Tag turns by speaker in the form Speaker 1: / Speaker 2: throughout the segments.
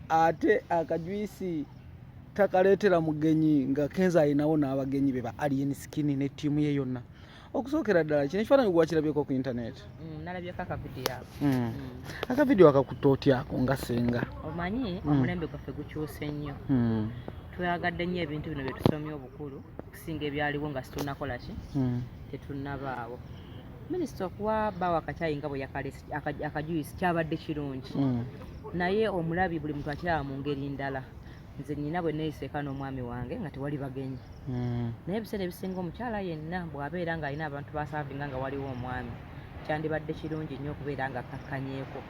Speaker 1: ate akajwisi takaleetera mugenyi nga kenza alinawo n'abagenyi be ba alien skin ne ttiimu ye yonna okusookera ddala kino ekifaananyi gwakirabyeko ku intaneti mm, nalabyeko akavidiyo
Speaker 2: ako mm. mm. akavidiyo
Speaker 1: akakutta otyako nga senga omanyi omulembe
Speaker 2: gwaffe gukyuse nnyo twayagadde nnyo ebintu bino bye tusomye obukulu okusinga ebyaliwo nga situnakola ki tetunnabaawo minisita okuwa bawa akakyayi nga bwe yakalesi akajuyisi kyabadde kirungi mm. naye omulabi buli muntu akiraba mu ngeri ndala nze nina bwe neyiseeka n'omwami wange nga tewali bagenyi mm. naye ebiseera ebisinga omukyala yenna bw'abeera ng'alina abantu basaavinga nga waliwo omwami kyandibadde kirungi nnyo okubeera nga akkakkanyeko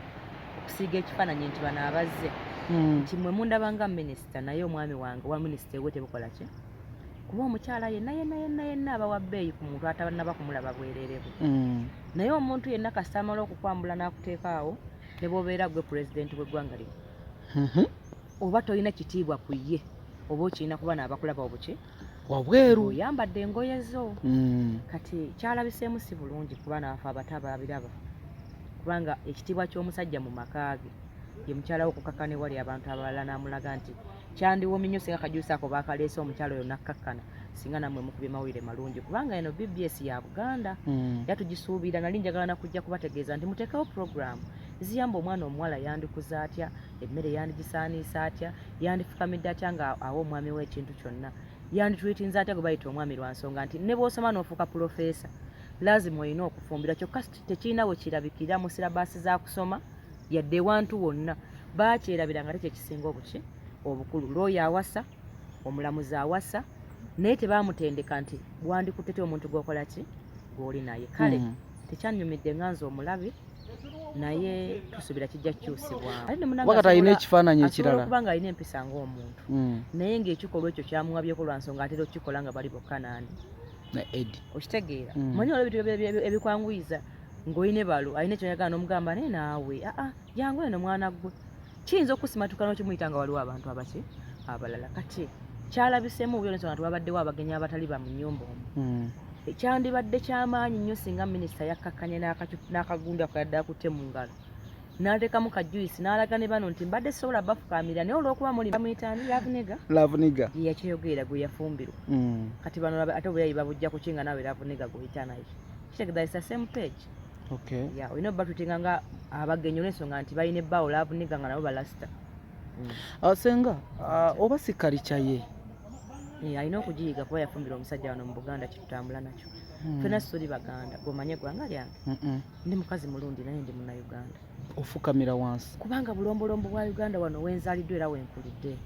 Speaker 2: okusiiga ekifaananyi nti bano abazze mm. nti mwe mundaba nga minisita naye omwami wange owa minisita ewe tebukola ki kuba omukyala yenna yenna yenna yenna abawa bbeeyi ku muntu atabannaba kumulaba bwerere bwe mm. naye omuntu yenna kasita amala okukwambula n'akuteeka awo ne bwobeera gwe pulezidenti w'eggwanga lino mm-hmm. oba tolina kitiibwa ku ye oba okirina kuba naabakulaba obuki wabweru
Speaker 1: oyambadde engoye
Speaker 2: zo mm. kati kyalabiseemu si bulungi kuba naafe abato ababiraba kubanga ekitiibwa ky'omusajja mu maka ge ye mukyala we okukakana ewali abantu abalala n'amulaga nti Kyandiwomye nnyo singa kajuusi ako baakaleese omukyalo oyo nakkakkana singa namwe mukubye mawulire malungi kubanga eno bbs ya buganda mm. yatugisuubira nali njagala nakujja kubategeeza nti muteekawo puroguramu ziyamba omwana omuwala yandikuza atya emmere yandigisaaniisa atya yandifukamidde atya nga awa omwami we ekintu kyonna yanditwitinza atya gwe bayita omwami lwa nsonga nti ne bwosoma n'ofuuka pulofeesa lazima olina okufumbira kyokka tekirina we kirabikira mu sirabaasi za kusoma yadde ewantu wonna bakyerabira nga tekyekisinga obuki obukulu looya awasa omulamuzi awasa naye tebamutendeka nti wandikutete omuntu gwokola ki gwoli naye kale mm. tekyanyumidde nga nze omulabi naye tusubira kijja kukyusibwawakati alina ekifaananyi
Speaker 1: ekirala kubanga alina empisa
Speaker 2: ngaomuntu mm. naye ngaekikolwa ekyo kyamuwabyeko lwa nsonga atera okukikola nga bali bokka nani na edi okitegeera mm. manyi olwo ebintu ebikwanguyiza ng'oyine balo alina kyoyagala nomugamba naye naawe aa ah, ah, jangu eno mwana gwe kiyinza okusimatuka nokimuyita nga waliwo abantu abaki abalala kati kyalabisemu obuyonesona nti wabaddewo abagenyi abatali ba munyumba omu hmm. ekyandibadde kyamaanyi nnyo singa minisita yakkakkanye n'akagundu akayadde akutte mu ngalo n'ateekamu ka juice n'alaga ne bano nti mbadde sisobola bafukaamira naye olw'okuba muli bamuyitaani lavuniga lavuniga ye yakyeyogerera gwe yafumbirwa hmm. kati bano ate obuyayi babujja kuki nga naawe lavuniga gweoyita naye kitegeza isa same page okay ya olina obatreatinga nga abagenyi olwensonga nti balina ebbaawo laavu niga nga nabo balasita mm. ah,
Speaker 1: senga ah, oba sikalica ye eh, alina
Speaker 2: okugiyiga kuba yafumbira omusajja wano mu buganda kyetutambula nakyo hmm. fena sitoli baganda gomanye egwanga lyange ndi mukazi mulundi naye ndi muna uganda ofukamira
Speaker 1: wansi kubanga bulombolombo bwa
Speaker 2: uganda wano wenzaliddwa era wenkulidde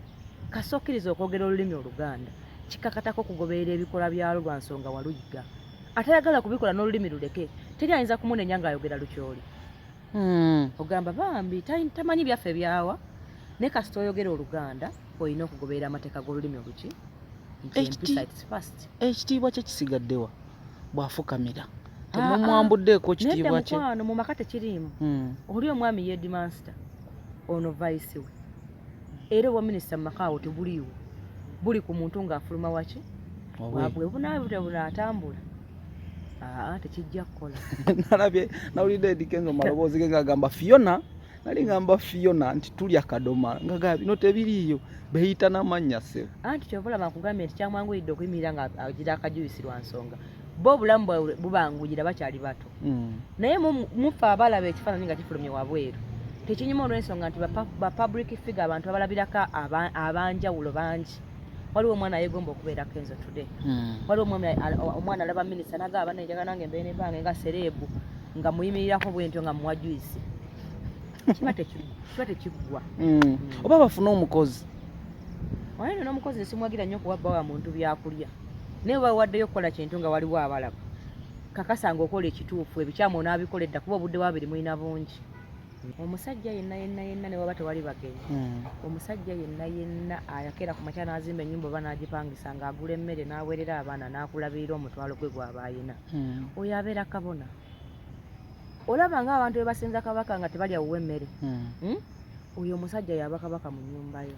Speaker 2: kasokkiriza okwogera olulimi oluganda kikakatako okugoberera ebikolwa byalwo lwa nsonga waluyiga atayagala kubikola n'olulimi luleke teri ayinza kumunenya ng'ayogera lukyoli hmm. ogamba bambi tamanyi byaffe byawa ne kasita oyogera oluganda olina okugoberera amateeka g'olulimi oluki
Speaker 1: ekitiibwa kye kisigaddewa bw'afukamira ah, temumwambuddeeko ah. kitiibwa kye mukwano mu maka tekiriimu
Speaker 2: hmm. oli omwami yedimansita ono vayisi we era obwa minisita mu maka awo tebuliiwo buli ku muntu ng'afuluma waki wabwe bunabute bunatambula aa tekijja kukola nalabye
Speaker 1: nawulidde edikenzo maloboozi ge ngagamba fiona nali ngamba fiona nti tulya kadoma ngaga bino tebiriiyo beyita namannya se anti kyovolaba nkugambye
Speaker 2: nti kyamwanguyidde okuyimirira nga agira akajuyisi lwa nsonga bo obulamu bwawe bubanguyira bakyali bato mm. naye mufe abalaba ekifaananyi nga kifulumye wabweru tekinyuma olw'ensonga nti bapublic figure abantu abalabirako abanjawulo bangi waliwo omwana yegomba okubeera kenzo today hmm. waliwo omwami omwana alaba minisita naga abana enjaga nange mbeere nebange nga sereebu nga muyimirirako bwentyo nga muwa juisi kiba tekiggwa hmm. Hmm. oba
Speaker 1: bafune omukozi oyo
Speaker 2: nona omukozi nsimwagira nnyo okuwa bbawa muntu byakulya naye oba waddeyo okukola kintu nga waliwo abalaba kakasa nga okola ekituufu ebikyamu onaabikola edda kuba obudde bwabiri mulina bungi omusajja yenna yenna yenna ne waba tewali bagenyi hmm. omusajja yenna yenna ayakera ku makya n'azimba ennyumba oba n'agipangisa ng'agula emmere n'aweerera abaana n'akulabirira omutwalo gwe gwaba ayina hmm. oyo abeera kabona olaba nga abantu be basinza kabaka nga tebalya wuwe emmere hmm. oyo omusajja yaba kabaka mu nnyumba yo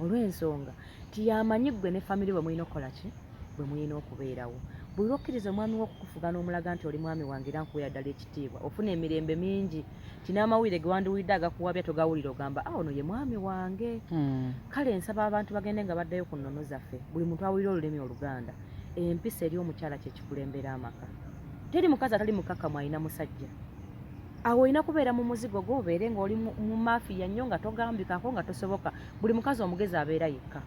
Speaker 2: olw'ensonga nti yamanyi gwe ne family bwe mulina okukola ki bwe mulina okubeerawo buli lwokkiriza omwami wo okukufuga n'omulaga nti oli mwami wange era nkuweera ddala ekitiibwa ofuna emirembe mingi nti n'amawulire ge wandiwulidde agakuwabya togawulira ogamba a ah, ono ye mwami wange hmm. kale nsaba abantu bagende nga baddayo ku nnono zaffe buli muntu awulira olulimi oluganda empisa eri omukyala kyekikulembera amaka teri mukazi atali mukakamu alina musajja awo olina kubeera mu muzigo gwo obeere ng'oli mu mafiya nnyo nga togambikako nga tosoboka buli mukazi omugezi abeera yekka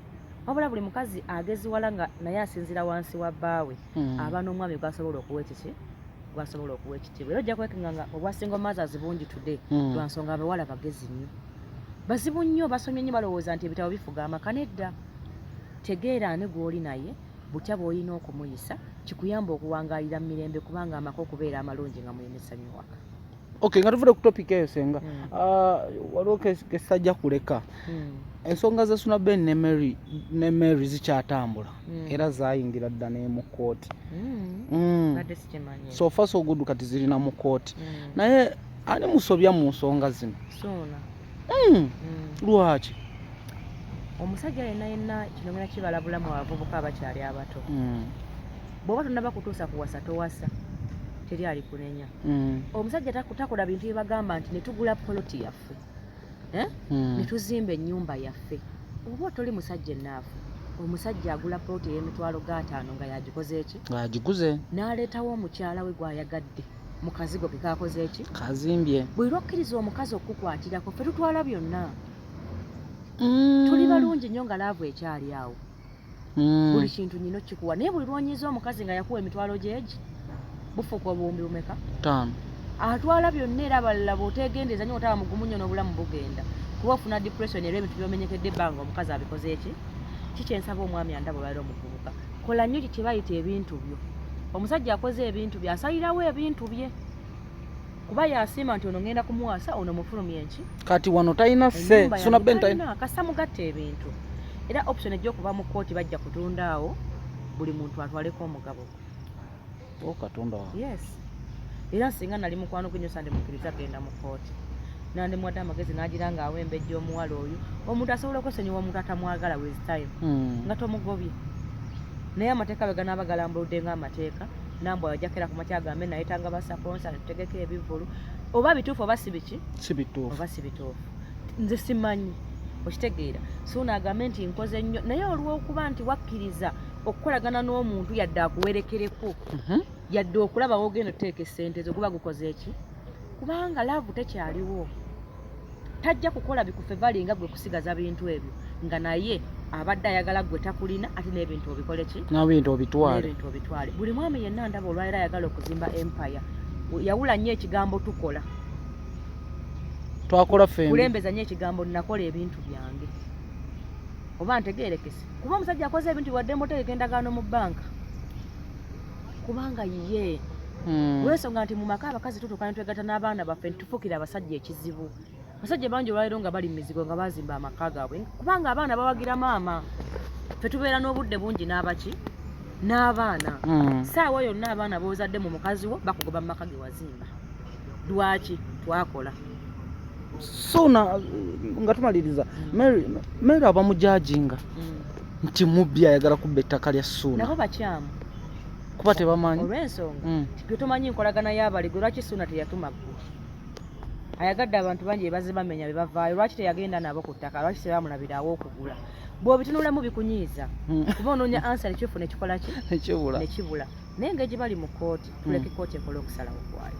Speaker 2: wabula buli mukazi ageziwala nga naye asinzira wansi wa bbaawe hmm. aba n'omwami gwasobola okuwa ekiki gwasobola okuwa ekitiibwa era ojja kwekenga nga obwa single mothers bungi today hmm. lwa nsonga abawala bagezi nnyo bazibu nnyo basomye nnyo balowooza nti ebitabo bifuga amaka nedda tegeera ani gw'oli naye butya bw'olina okumuyisa kikuyamba okuwangaalira mu mirembe kubanga amaka okubeera amalungi nga mulina essanyu waka Okay, nga tuvude
Speaker 1: ku topic eyo senga mm. uh, waliwo kesajja kuleka mm. ensonga za Suna Ben ne Mary ne Mary zikyatambula mm. era zayingira dda ne mu kooti mm. mm. so far so good kati zirina mu kooti mm. naye ani musobya mu nsonga zino Suna mm. mm. lwaki
Speaker 2: omusajja yenna yenna kino ngena kibala bulamu abavubuka abakyali abato mm. bwoba tonnaba kutuusa kuwasa towasa teri alikunenya mm. omusajja takola bintu byebagamba nti netugula poloti yaffe eh? mm. netuzimba enyumba yaffe oba otoli musajja enaafu omusajja agula poloti eyemitwalo gataano nga yagikoze eki agiguze
Speaker 1: naleetawo omukyala
Speaker 2: we gwayagadde mukazigo kekakoze eki kazimbye buli
Speaker 1: lwokkiriza
Speaker 2: omukazi okukukwatirako fe tutwala byonna mm. tuli balungi nnyo nga laavu ekyali awo mm. buli kintu nyina okikuwa naye buli lwonyiza omukazi nga yakuwa emitwalo gyegi bufuuka obuwumbi bumeka taano
Speaker 1: atwala
Speaker 2: byonna era abalala bwotegendeeza nyo otaba mugumu nyo n'obulamu bugenda kuba ofuna depression era ebintu byomenyekedde ebbanga omukazi abikoze eki kikyensaba omwami andaba olwaliro omuvubuka kola nyo kyebayita ebintu byo omusajja akoze ebintu bye asalirawo ebintu bye kuba yasiima nti ono ngenda kumuwasa ono mufulumye nki kati wano talina
Speaker 1: se suna ben talina kasa mugatta ebintu
Speaker 2: era option ejja okuva mu kkooti bajja kutunda awo buli muntu atwaleko omugabo oh,
Speaker 1: katonda yes
Speaker 2: era singa nali mukwano gwenyo sande mukiriza genda mu kkooti nandi mwada amagezi nagira nga awembejja omuwala oyo omuntu asobola okwesonyiwa omuntu atamwagala with time hmm. nga tomugobye naye amateeka bwe ganaaba galambuludde nga amateeka nambwa wajakera ku makya gambe naye tanga ba sponsor tutegeke ebivulu oba bituufu oba si biki si bituufu oba si
Speaker 1: bituufu
Speaker 2: nze simanyi okitegeera suuna agambe nti nkoze nnyo naye olw'okuba nti wakkiriza okukolagana n'omuntu yadde akuwerekereko mhm. yadde okulaba wogenda oteeka esente zo guba gukoze eki kubanga laavu tekyaliwo tajja kukola bikufe valinga gwe kusigaza bintu ebyo nga naye abadde ayagala gwe takulina ate n'ebintu obikole ki n'ebintu obitwale
Speaker 1: n'ebintu obitwale buli mwami yenna
Speaker 2: ndaba olwaliro ayagala okuzimba empire yawula nnyo ekigambo tukola
Speaker 1: twakola ffe kulembeza nnyo ekigambo
Speaker 2: nakola ebintu byange oba ntegeerekese kuba omusajja akoze ebintu wadde mutegeka endagaano mu bbanka kubanga ye hmm. olwensonga nti mu maka abakazi tutuuka ne twegatta n'abaana baffe nti Fukira abasajja ekizibu. Abasajja bangi olwaliro nga bali mizigo nga bazimba amaka gaabwe kubanga abaana bawagira maama. Ffe tubeera n'obudde bungi n'abaki n'abaana. Hmm. Saawa yonna abaana b'ozadde mu mukazi wo bakugoba mu maka ge wazimba. Lwaki twakola.
Speaker 1: Sona nga tumaliriza hmm. Mary Mary abamujajinga hmm. nti mubbi ayagala kubba ettaka lya Sona. Nabo bakyamu.
Speaker 2: kuba
Speaker 1: tebamanyi olw'ensonga mm. gwe
Speaker 2: tomanyi nkolagana y'abali gwe lwaki suuna teyatuma ggwe ayagadde abantu bangi bebaze bamenya bebavaayo lwaki teyagenda nabo ku ttaka lwaki tebamulabiraawo okugula bwobitunulamu bikunyiiza mm. kuba onoonya ansa nekyufu nekikola ki nekibula naye nga egibali mu kooti tuleke mm. kooti ekola okusalawo kwayo